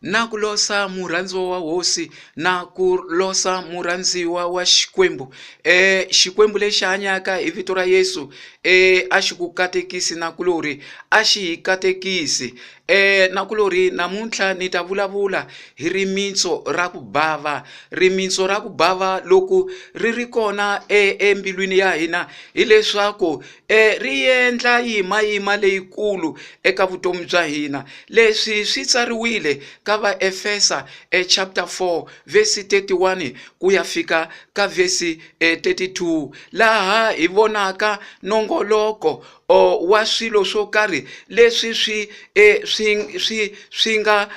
na ku losa murhandziwa wa hosi na ku losa murhandziwa wa xikwembu e xikwembu lexi hanyaka hi vito ra yesu e a xi ku katekisi na kulori a xi hi katekisi e na kulori namuntlha ni ta vulavula hi rimitso ra ku bava rimitso ra ku bava loko ri ri kona e embilwini ya hina hileswaku ri endla yimayima leyikulu eka vutomi bya hina. Leswi swi tsariwile ka Vaefesa e chapter 4 verse 31 ku ya fika ka verse 32 laha hi vonaka nongoloko wa swilo swo karhi leswi swi e, swi swi swi nga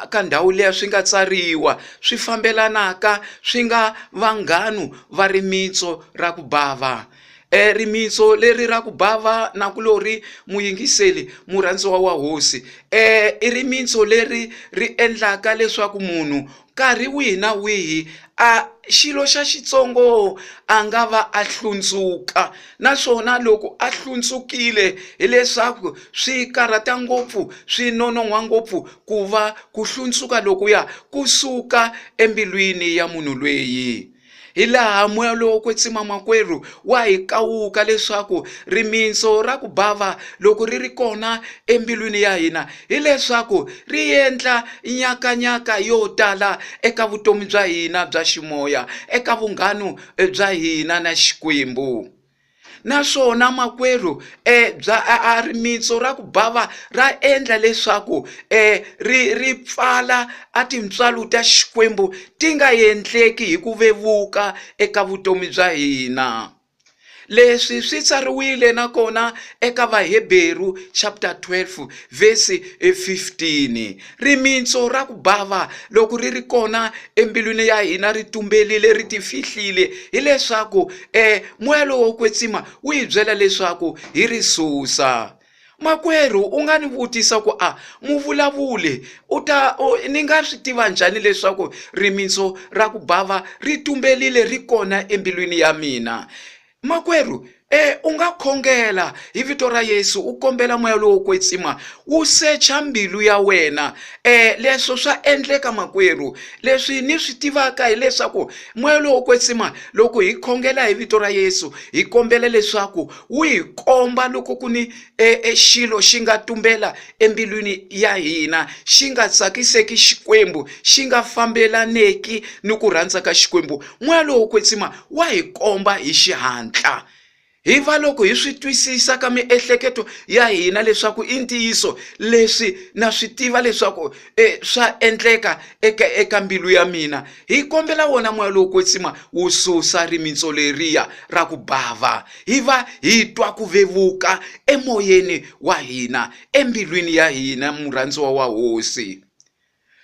ka ndhawu leya swi nga tsariwa swi fambelanaka swi nga vanghanu va rimitso ra ku bava E rimitso leri ra ku bava na ku lori muyingiseli murhandziwa wa hosi e i rimitso leri ri endlaka leswaku munhu nkarhi wihi na wihi a xilo xa xitsongo a nga va a hlundzuka naswona loko a hlundzukile hileswaku swi karhata ngopfu swi nonon'hwa ngopfu ku va ku hlundzuka lokuya kusuka embilwini ya munhu lweyi hi laha moya lowo kwetsima makwerhu wa hi kawuka leswaku rimitso ra ku bava loko ri ri kona embilwini ya hina hileswaku ri endla nyakanyaka yo tala eka vutomi bya hina bya ximoya eka vunghanu eh, bya hina na xikwembu naswona makwerhu e bya a rimitsu ra ku bava ra endla leswaku e ri ri pfala a tintswalo ta xikwembu ti nga endleki hi ku vevuka eka vutomi bya hina leswi swi tsariwile nakona eka vaheberu chapter 12 vhesi 15 Rimitsu ra ku bava, loko ri ri kona embilwini ya hina, ri tumbelile, ri tifihlile, hileswaku e moya lowo wo kwetsima wu hi byela leswaku hi ri susa. Makwerhu u nga ni vutisa ku a muvulavuli u ta ni nga swi tiva njhani leswaku rimitsu ra ku bava ri tumbelile ri kona embilwini ya mina? Makwerhu, e u nga khongela hi vito ra Yesu u kombela moya lowo kwetsima wu secha mbilu ya wena. E leswo swa endleka makwerhu. Leswi ni swi tivaka hileswaku moya lowo kwetsima loko hi khongela hi vito ra Yesu hi kombela leswaku wu hi komba loko ku ni e, e xilo xi nga tumbela embilwini ya hina xi nga tsakiseki xikwembu xi nga fambelaneki ni ku rhandza ka xikwembu moya lowo kwetsima wa hi komba hi xihatla hi va loko hi swi twisisa ka miehleketo ya hina leswaku i ntiyiso leswi na swi tiva leswaku e, swa endleka eka, eka mbilu ya mina hi kombela wona moya lowo kwetsima wu susa rimitso leriya ra ku bava hi va hi twa ku vevuka emoyeni wa hina embilwini ya hina murhandziwa wa hosi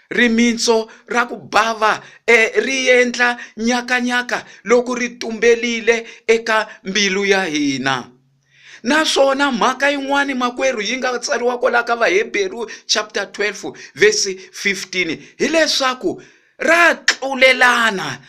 rimitso ra ku bava e, ri endla nyakanyaka loko ri tumbelile eka mbilu ya hina naswona mhaka yin'wana makwerhu yi nga tsariwa kwalaho ka vaheberu chapter 12 verse 15 hileswaku ra tlulelana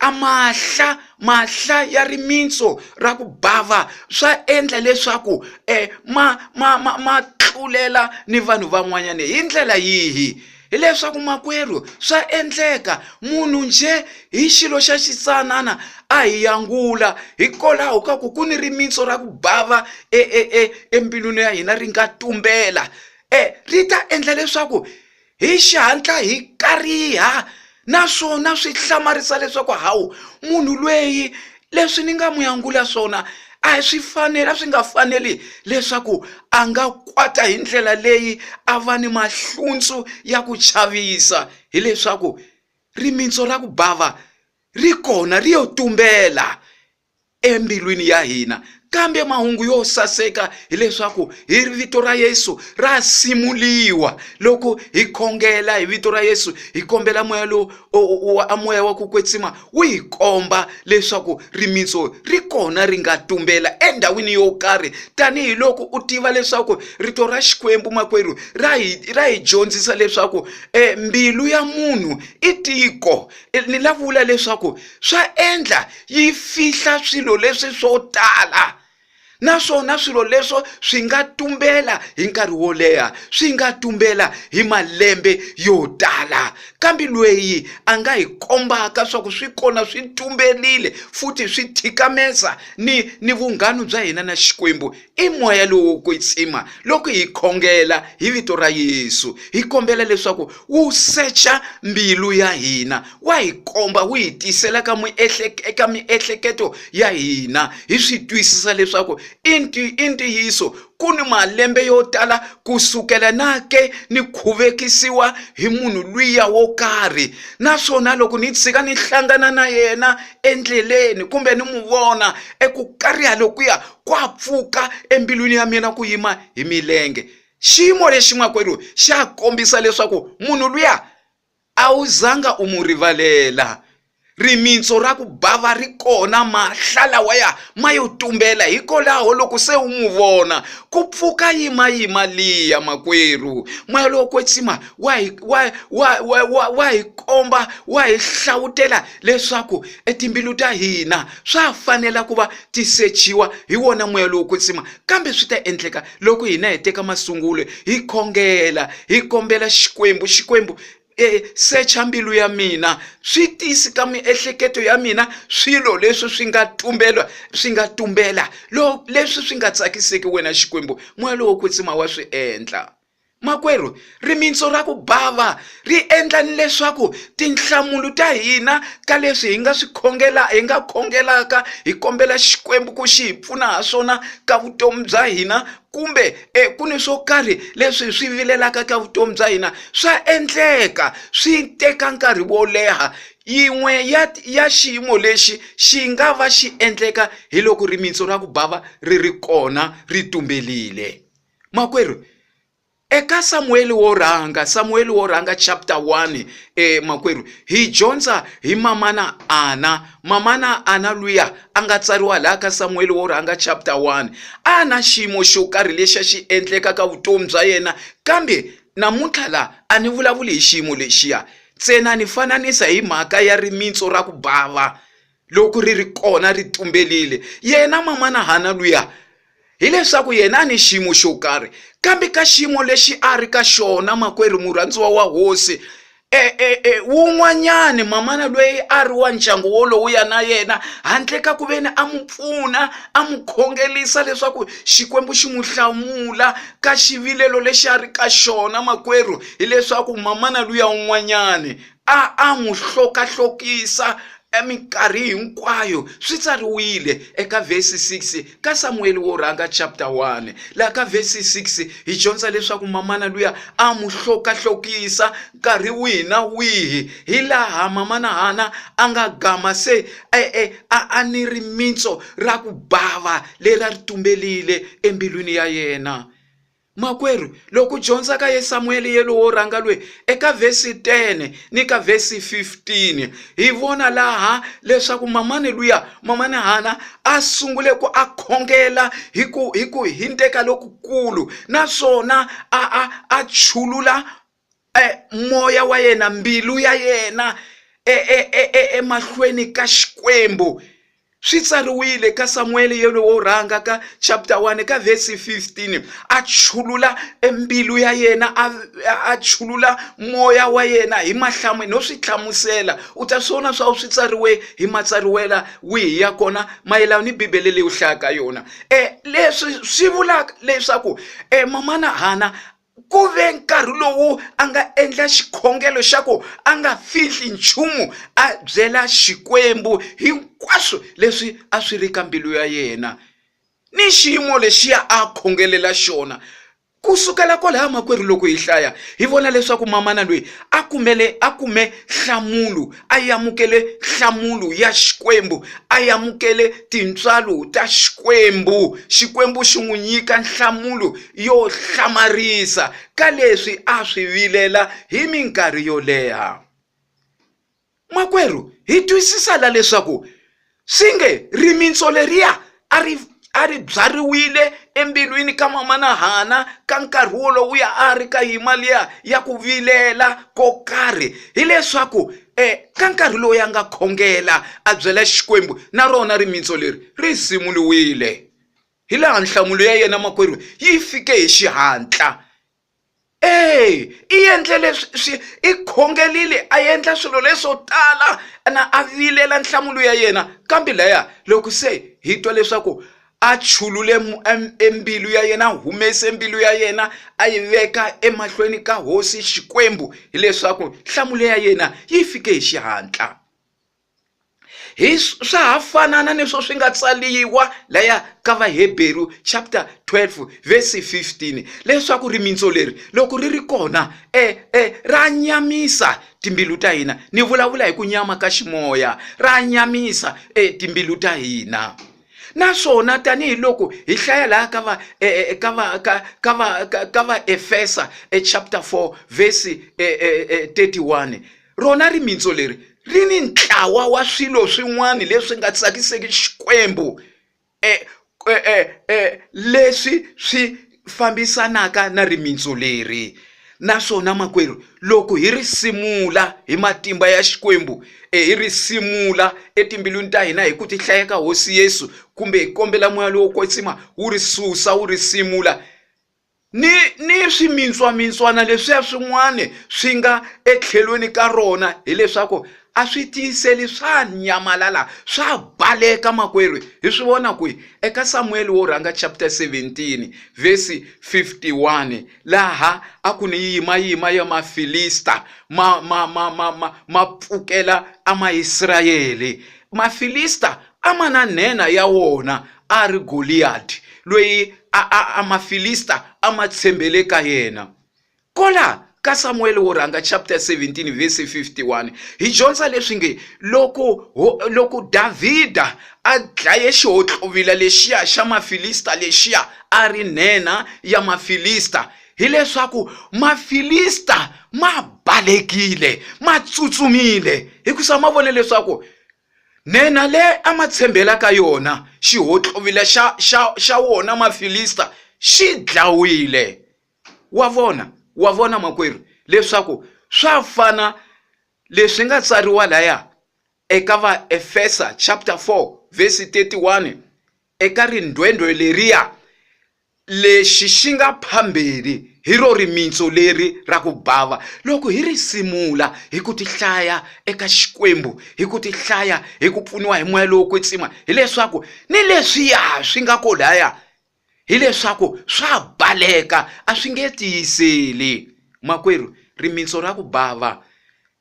A mahla mahla ya rimitsu ra ku bava swa endla leswaku eh, ma, ma, ma, ma tlulela ni vanhu van'wanyana hi ndlela yihi hileswaku makwerhu swa endleka munhu njhe hi xilo xa xitsanana a hi yangula hikolaho ka ku ku ni rimitsu ra ku bava e, e, e, embilwini ya hina ri nga tumbela e, ri ta endla leswaku Hi xihatla hi kariha naswona swi hlamarisa leswaku hawu munhu lweyi leswi ni nga n'wi angula swona a hi swi fanela swi nga faneli leswaku a nga kwata hi ndlela leyi a va ni mahluntsu ya ku chavisa hileswaku rimitso ra ku bava ri kona ri yo tumbela embilwini ya hina. Kambe mahungu yo saseka hileswaku hi vito ra Yesu ra simuliwa. Loko hi khongela hi vito ra Yesu, hi kombela moya lowu a moya wa ku kwetsima wu hi komba leswaku rimitso ri kona ri nga tumbela endhawini yo karhi tanihiloko u tiva leswaku rito ra Xikwembu makwerhu ra hi ra hi dyondzisa leswaku e mbilu ya munhu i tiko ni la vula leswaku swa endla yi fihla swilo leswi swo tala naswona swilo leswo swi nga tumbela hi nkarhi wo leha swi nga tumbela hi malembe yo tala kambe lweyi a nga hi kombaka swa ku swi kona swi tumberile futhi swi thikamesa ni ni vunghanu bya hina na xikwembu I moya lowu wo kwetsima loko hi khongela hi vito ra Yesu hi kombela leswaku wu secha mbilu ya hina wa hi komba wu hi tisela ka eka miehleketo ya hina hi swi twisisa leswaku i ntiyiso ku ni malembe yo tala ku sukela na ke ni khuvekisiwa hi munhu lwiya wo karhi naswona loko ni tshika ni hlangana na yena endleleni kumbe ni n'wi vona eku kariha lokuya ku a pfuka embilwini ya mina ku yima hi milenge xiyimo lexi makwerhu xa kombisa leswaku munhu luya a wu zanga u mu rivalela rimitso ra ku bava ri kona mahla lawaya ma yo tumbela hikolaho loko se u n'wi vona ku pfuka yimayima liya makwerhu moya lowo kwetsima wa hi wa wa wa wa wa hi komba wa hi hlawutela leswaku etimbilu ta hina Swa ha fanela ku va ti sechiwa hi wona moya lowo kwetsima, kambe swi ta endleka loko hina hi teka masungulo hi khongela, hi kombela Xikwembu, Xikwembu, e, secha mbilu ya mina, swi tisi ka miehleketo ya mina swilo leswi swi nga tumbela, swi nga tumbela, lo, leswi swi nga tsakiseki wena Xikwembu, moya lowo kwetsima wa swi endla. Makwerhu, rimitsu ra ku bava ri endla ni leswaku tinhlamulo ta hina ka leswi hi nga swi khongela hi nga khongelaka hi kombela Xikwembu ku xi hi pfuna ha swona ka vutomi bya hina kumbe e ku ni swo karhi leswi hi swi vilelaka ka vutomi bya hina swa endleka swi teka nkarhi wo leha yin'we ya ya xiyimo lexi xi nga va xi endleka hi loko rimitsu ra ku bava ri ri kona ri tumbelile makwerhu eka samuweli wo rhanga samuweli wo rhanga chapter 1 eh, makwerhu hi dyondza hi mamana ana mamana ana luya a nga tsariwa laha ka samuweli wo rhanga chapter 1 a na xiyimo xo karhi lexi a xi endleka ka vutomi bya yena kambe namuntlha laha a ni vulavuli hi xiyimo lexiya ntsena ni fananisa hi mhaka ya rimitso ra ku bava loko ri ri kona ri tumberile yena mamana hana luya hileswaku yena a ni xiyimo xo karhi kambe ka xiyimo lexi a ri ka xona makwerhu murhandziwa wa hosi e, e, e, wun'wanyani mamana loyi a ri wa ndyangu wolowo ya na yena handle ka ku veni a n'wi pfuna a n'wi khongelisa leswaku xikwembu xi n'wi hlamula ka xivilelo lexi a ri ka xona makwerhu hileswaku mamana luya wun'wanyani A a n'wi hlokahlokisa eminkarhi hinkwayo swi tsariwile eka vhesi 6 ka samuweli wo rhanga chapter 1 laha ka vhesi 6 hi dyondza leswaku mamana luya a n'wi hlokahlokisa nkarhi wihi na wihi hi laha mamana hana a nga gama se e, e, a a ni rimitso ra ku bava leri a ri tumbelile embilwini ya yena Makwerhu, loko u dyondza ka Yesamuele yelo wo rhanga lwe eka vhesi 10 ni ka vhesi 15, hi vona laha leswaku mamani luya, mamani Hana, a sungule ku a khongela hi ku hi ku hindeka lokukulu naswona a a a chulula e moya wa yena mbilu ya yena emahlweni e, e, e, ka xikwembu swi tsariwile ka samuwele yena wo rhanga ka chapter 1 ka vhesi 15 a chulula embilu ya yena a chulula moya wa yena hi mahlamu no swi hlamusela u ta swi vona swa swi tsariwe hi matsariwela wihi ya kona mayelana ni bibele leyi u hlayaka yona um leswi swi vulaka leswaku um mamana hana ku ve nkarhi lowu a nga endla xikhongelo xa ku a nga fihli nchumu a byela xikwembu hinkwaswo leswi a swi ri ka mbilu ya yena ni xiyimo lexiya a khongelela xona ku sukela kwalaho makwerhu loko hi hlaya hi vona leswaku mamana loyi a kumele a kume nhlamulo a yi amukele nhlamulo ya xikwembu a yi amukele tintswalo ta xikwembu xikwembu xi n'wi nyika nhlamulo yo hlamarisa ka leswi a swi vilela hi minkarhi yo leha makwerhu hi twisisa la leswaku swi nge rimitsu leriya a ri a ri byariwile embilwini ka mamana hana ka nkarhi wolowuya a ri ka yima liya ya ku vilela ko karhi hileswaku um ka nkarhi lowu ya nga khongela a byela xikwembu na rona rimitsu leri ri simuliwile hi laha nhlamulo ya yena makwerhu yi fike hi xihatla eya i endle leswi swi i khongelile a endla swilo leswo tala na a vilela nhlamulo ya yena kambe laya loko se hi twa leswaku a chulule embilu ya yena a humese mbilu ya yena a yi veka emahlweni ka hosi xikwembu hileswaku nhlamulo ya yena yi fike hi xihatla hi swa ha fanana ni swo swi nga tsaliwa laya ka vaheberu chapter 12 verse 15 leswaku rimitso leri loko ri ri kona e e ra nyamisa timbilu ta hina ni vulavula hi ku nyama ka ximoya ra nyamisa e timbilu ta hina naswona tanihiloko hi hlaya laha ka va e, e, e, ka va ka ka va ka va efesa e chapter 4 verse 31 Rona rimitsu leri ri ni ntlawa wa swilo swin'wana leswi nga tsakiseki Xikwembu e, e, e, e, leswi swi fambisanaka na rimitsu leri. Naswona makwerhu, loko hi ri simula hi matimba ya Xikwembu, e, hi ri simula etimbilwini ta hina hi ku tihlaya ka Hosi Yesu, kumbe hi kombela moya lowo kwetsima wu ri susa wu ri simula, ni ni swimintswamintswana leswiya swin'wana swi nga etlhelweni ka rona hileswaku a swi tiyiseli swa nyamalala swa baleka makwerhu hi swi vona kwihi eka samuwele wo rhanga chapter 17 vhesi 51 laha a ku ni yimayima ya mafilista ma ma ma ma ma ma pfukela amaisrayele mafilista a ma na nhenha ya wona a ri Goliyadi, loyi Mafilista a ma tshembele ka yena. Kola ka Samuwele wo Rhanga chapter 17 verse 51 hi dyondza leswi nge loko loko Davhida a dlaye xihohlovila lexiya xa Mafilista lexiya a ri nhenha ya Mafilista hileswaku Mafilista ma balekile ma tsutsumile hikusa ma vone leswaku Nhenha leyi a ma tshembela ka yona, xihontlovila xa, xa, xa wona Mafilista xi dlawile. Wa vona? Wa vona, makwerhu, leswaku swa fana leswi nga tsariwa laya eka Vaefesa chapter 4 verse 31, eka rindhwendhwe leriya, Lexi xi nga phambili hi ro rimitsu leri ra ku bava, loko hi ri simula hi ku tihlaya eka Xikwembu, hi ku tihlaya hi ku pfuniwa hi moya lowo kwetsima, hileswaku ni leswiya swi nga kolaya, hileswaku swa baleka, a swi nge tiyiseli. Makwerhu, rimitsu ra ku bava.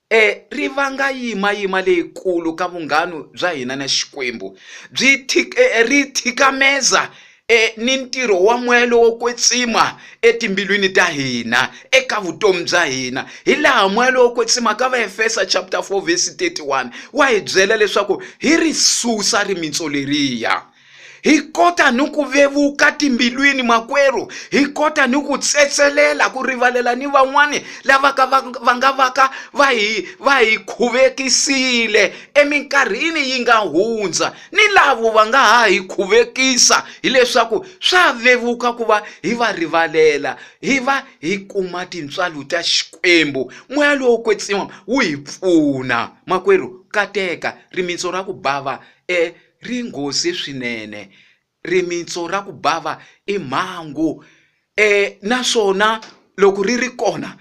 E ri vanga yimayima leyikulu ka vunghanu bya hina na Xikwembu. Byi thik, e, ri thikameza e, ni ntirho wa moya lowo kwetsima etimbilwini ta hina, eka vutomi bya hina. Hi laha moya lowo kwetsima ka Vaefesa chapter 4 verse 31 wa hi byela leswaku hi ri susa rimitso leriya. hi kota ni ku vevuka timbilwini makwerhu hi kota ni ku tsetselela ku rivalela ni van'wani lava ka va va nga va ka va hi va hi khuvekisile eminkarhini yi nga hundza ni lavo va nga ha hi khuvekisa hileswaku swa vevuka ku va hi va rivalela hi va hi kuma tintswalo ta xikwembu moya lowo kwetsiwa wu hi pfuna makwerhu kateka rimitsu ra ku bava e Ri nghozi swinene. Rimitsu ra ku bava i mhangu naswona loko ri ri kona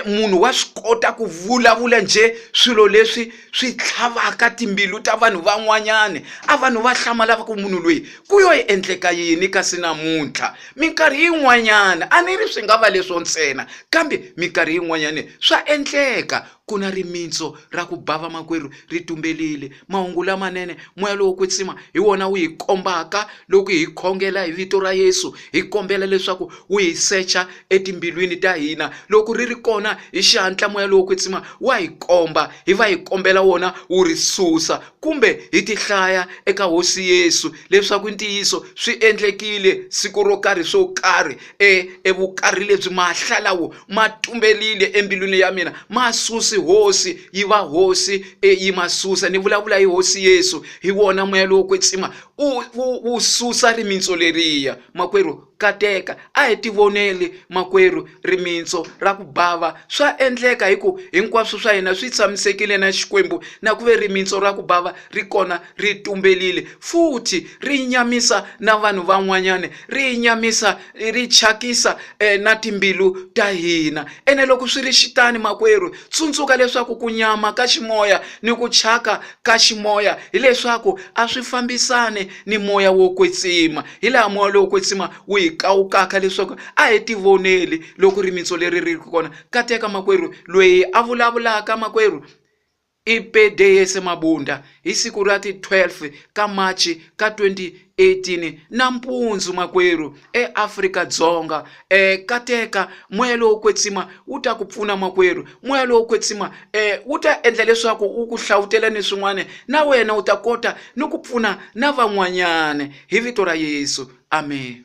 munhu wa swi kota ku vulavula njhe swilo leswi swi tlhavaka timbilu ta vanhu van'wanyani a vanhu va hlamala va ku munhu loyi ku yo endleka yini kasi namuntlha minkarhi yin'wanyana a ni ri swi nga va leswo ntsena kambe minkarhi yin'wanyani swa endleka Ku na rimitsu ra ku ba vamakwerhu ri tumbelile. Mahungu lamanene, moya lowo kwetsima hi wona wu hi kombaka loko hi khongela hi vito ra Yesu, hi kombela leswaku wu hi secha etimbilwini ta hina. Loko ri ri kona, hi xihatla moya lowo kwetsima wa hi komba, hi va hi kombela wona wu ri susa. Kumbe hi tihlaya eka Hosi Yesu, leswaku i ntiyiso swi endlekile siku ro karhi swo karhi e evukarhi lebyi mahla lawo ma tumberile embilwini ya mina ma susi hosi yi va hosi e yi ma susa ni vulavula hi hosi yesu hi wona moya lowo kwetsima wu susa rimitso leriya makwerhu kateka a hi tivoneli makwerhu rimitso ra ku bava swa endleka hi ku hinkwaswo swa hina swi tshamisekile na xikwembu na ku ve rimitso ra ku bava ri kona ri tumbelile futhi ri nyamisa na vanhu van'wanyana ri nyamisa ri chakisa eh, na timbilu ta hina ene loko swi ri xitani makwerhu tsundzuka leswaku ku nyama ka ximoya ni ku chaka ka ximoya hileswaku a swi fambisani ni moya wo kwetsima hi laha moya lowo kwetsima wu hi kawukaka leswaku a hi tivoneli loko rimitso leri ri ri kona kateka makwerhu loyi a vulavulaka makwerhu I Pede Yese Mabunda hi siku ra ti 12 ka Machi ka 2018 nampundzu makwerhu eAfrika Dzonga eh kateka moya lowo kwetsima wu ta ku pfuna makwerhu moya lowo kwetsima eh wu ta endla leswaku wu ku hlawutela ni swin'wana na wena u ta kota ni ku pfuna na van'wanyana hi vito ra Yesu amen